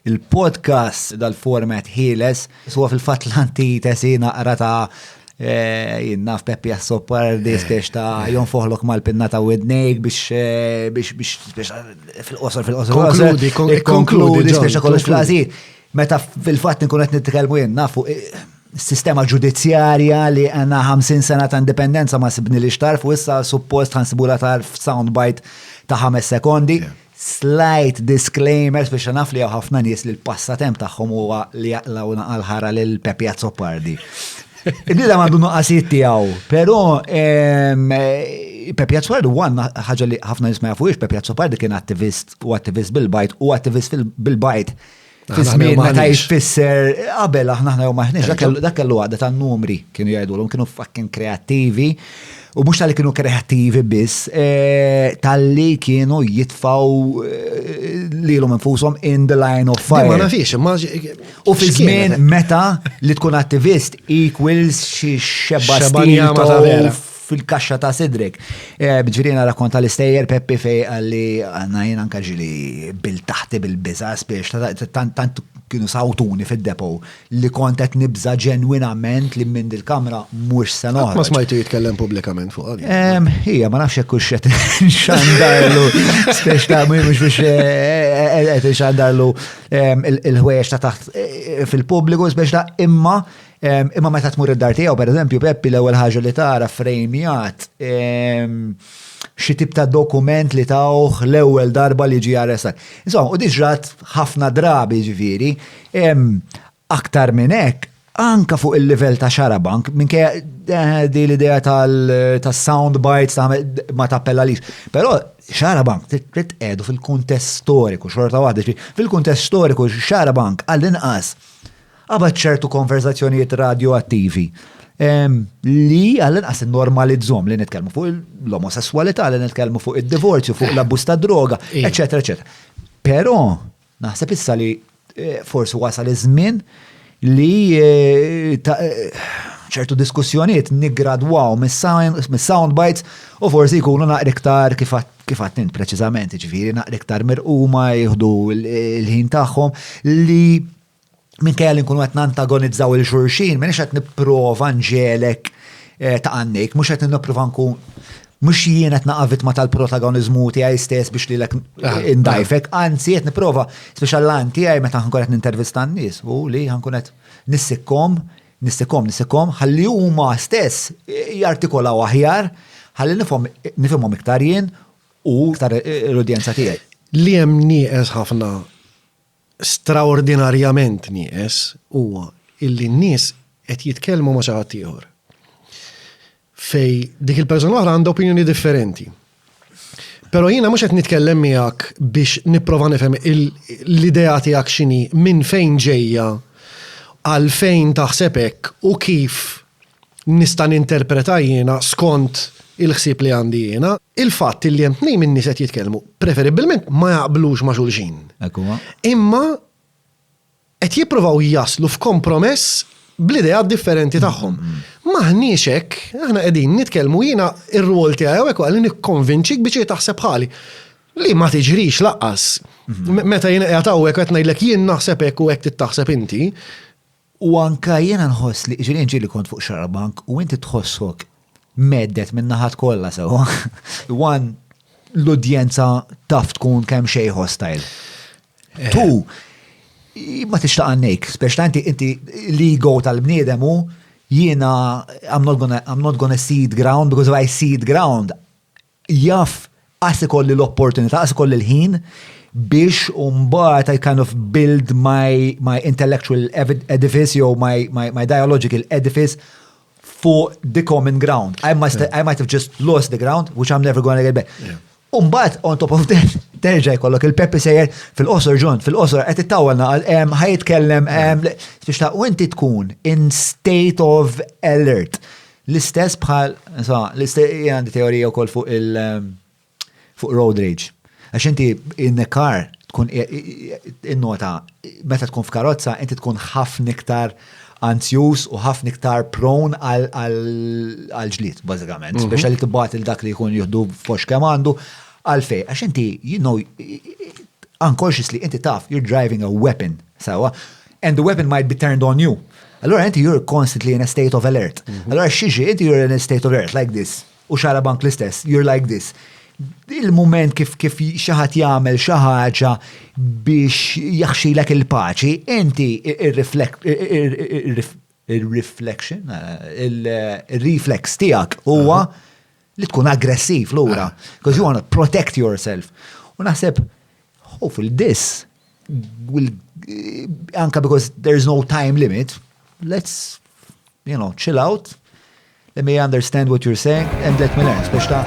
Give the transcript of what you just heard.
Il-podcast dal-format ħieles, suwa fil-fat l-anti tesina qra ta' eh, jinnaf Peppi Assopar di eh. spiex ta' jon foħlok mal-pinna ta' widnejk biex eh, biex biex fil-qosor fil-qosor. Konkludi, konkludi, spiex ta' kollox fl-għazi. Meta fil-fat nkun qed nitkellmu jien nafu sistema ġudizzjarja li għanna 50 sena ta' indipendenza ma sibni li xtarf u issa suppost ħansibula tarf soundbite ta' 5 sekondi. Yeah. Slight disclaimer biex naf li hawn ħafna nies li l-passatemp tagħhom huwa li jaqlaw naqal ħara lil Pepi Azzopardi. Nida għandu nuqqasijiet tiegħu, però ehm, Pepi Azzopardi huwa ħaġa li ħafna nies ma jafux, Pepi Azzopardi kien attivist u attivist bil-bajt u attivist bil-bajt Fi żmien meta jfisser qabel aħna aħna jew maħniex dak kellu għadda ta' numri kienu jgħidulhom kienu fucking kreattivi u mhux tal-li kienu kreattivi biss eh, tal-li kienu jitfaw eh, lilhom infushom in the line of fire. Ma nafix, U fi żmien meta li tkun attivist equals xi xebba stil fil-kaxxa ta' sidrek. Eh, Bġirina rakkonta l-istejjer Peppi fej għalli għanna jien anka ġili bil taħti bil-biza spiex tant kienu sawtuni fil-depo li kontet nibza ġenwinament li minn dil-kamra mux se noħroġ. Ma smajtu jitkellem publikament fuq għalli. Ija, ma nafx jekk xet xandarlu, spiex ta' mux biex xandarlu il-ħwejx ta' taħt eh, fil-publiku, spiex ta' imma Imma meta tmur id-dar tiegħu, pereżempju, Peppi l-ewwel ħaġa li tara frejmjat xi tip ta' dokument li tawh l-ewwel darba li ġie arrestat. Insomma, u diġrat ħafna drabi ġifieri, aktar minn hekk, anka fuq il-livell ta' xarabank, minn kja eh, di l-idea tal-sound bites ta' ma tappella lix. Però xarabank trid edu fil-kuntest storiku, xorta waħda, fil-kuntest storiku xarabank għall-inqas Qabad ċertu konverżazzjonijiet radjoattivi li għall-inqas normalizzhom li nitkellmu fuq l-omosessualità, li nitkellmu fuq id-divorzju, fuq l-abbuż ta' droga, eċetera, eċetera. Però naħseb issa li eh, forsi wasal iż-żmien li eh, eh, ċertu diskussjonijiet nigradwaw mis-sound bites u forsi jkunu naqri iktar kif għat int preċiżament, ġifieri naqri iktar mirquma jieħdu l-ħin tagħhom li minkejja li nkunu qed nantagonizzaw il xurxin, minix qed nipprova nġelek eh, ta' għannik, mhux qed nipprova nkun mux jien qed naqa' vittma tal-protagonizmu tiegħi stess biex li lek ah, indajfek, ah. anzi qed nipprova speċa l-lan tiegħi meta ħankun qed nintervista n-nies u li ħankun qed nissikkom, nissikkom, nissikkom, ħalli huma stess jartikolaw aħjar, ħalli nifhimhom iktar jien u iktar eh, l-udjenza tiegħi. Li hemm nieqes ħafna straordinarjament nieqes huwa illi n-nies qed jitkellmu ma' xi ħadd ieħor. Fej dik il-persuna oħra għandha opinjoni differenti. Pero jiena mhux qed nitkellem miegħek biex nipprova nifhem l-idea tiegħek x'inhi minn fejn ġejja għal fejn taħseb hekk u kif nista' ninterpreta jiena skont il-ħsieb li għandi jiena, il-fatt illi hemm tnejn min-nies qed jitkellmu, preferibbilment ma jaqblux ma' xulxin. Hekk huwa. Imma qed jippruvaw jaslu f'kompromess bl-ideat differenti tagħhom. M'aħniex hekk, aħna qegħdin nitkellmu jiena r-rwol tiegħi hawnhekk huwa li nikkonvinċik biex hi taħseb bħali. Li ma tiġrix lanqas. Meta jiena qiegħed hawnhekk qed ngħidlek jien naħseb hekk u hekk trid taħseb inti, U anke jiena nħoss li ġieli ġieli kont fuq xarabank u inti tħossok meddet minn naħat kollha sewwa. Wan l-udjenza taf tkun kemm xejn hostile. Eh. Tu ma tixtaq għannejk, spex ta' inti l-ego tal-bniedem u jiena I'm not gonna seed ground because if I seed ground jaf qas ikolli l-opportunità, qas ikolli l-ħin biex mbagħad I kind of build my, my intellectual edifice jew my, my, my dialogical edifice for the common ground. I, must, I might have just lost the ground, which I'm never going to get back. Yeah. Umbat, on top of that, terġa jkollok il-Peppi sejjer fil-qosor ġon, fil-qosor, għet it-tawel naqal, ħajt kellem, biex ta' u inti tkun in state of alert. L-istess bħal, insomma, l-istess jien għandi teorija wkoll fuq il fuq road rage. Għax inti in a car tkun innota meta tkun f'karozza inti tkun ħafna iktar anzjuż u ħafna iktar prone għal ġlied bażikament, mhm. speċjal li tibgħat il dak li jkun jieħdu fox kemm għandu għalfej għax inti you know unconsciously inti taf you're driving a weapon sawa and the weapon might be turned on you. Allora inti you're constantly in a state of alert. Mhm. Allora xieġi, inti you're in a state of alert like this. U xara bank l-istess, you're like this. Il-moment kif kif xaħat jagħmel xi ħaġa biex jaħxilek il-paċi, inti Ir-reflection, ir-reflex tiegħek huwa li tkun aggressiv lura, because you want to protect yourself. U naħseb, hopefully this will, anka because there's no time limit, let's, you know, chill out, let me understand what you're saying, and let me learn, biex ta'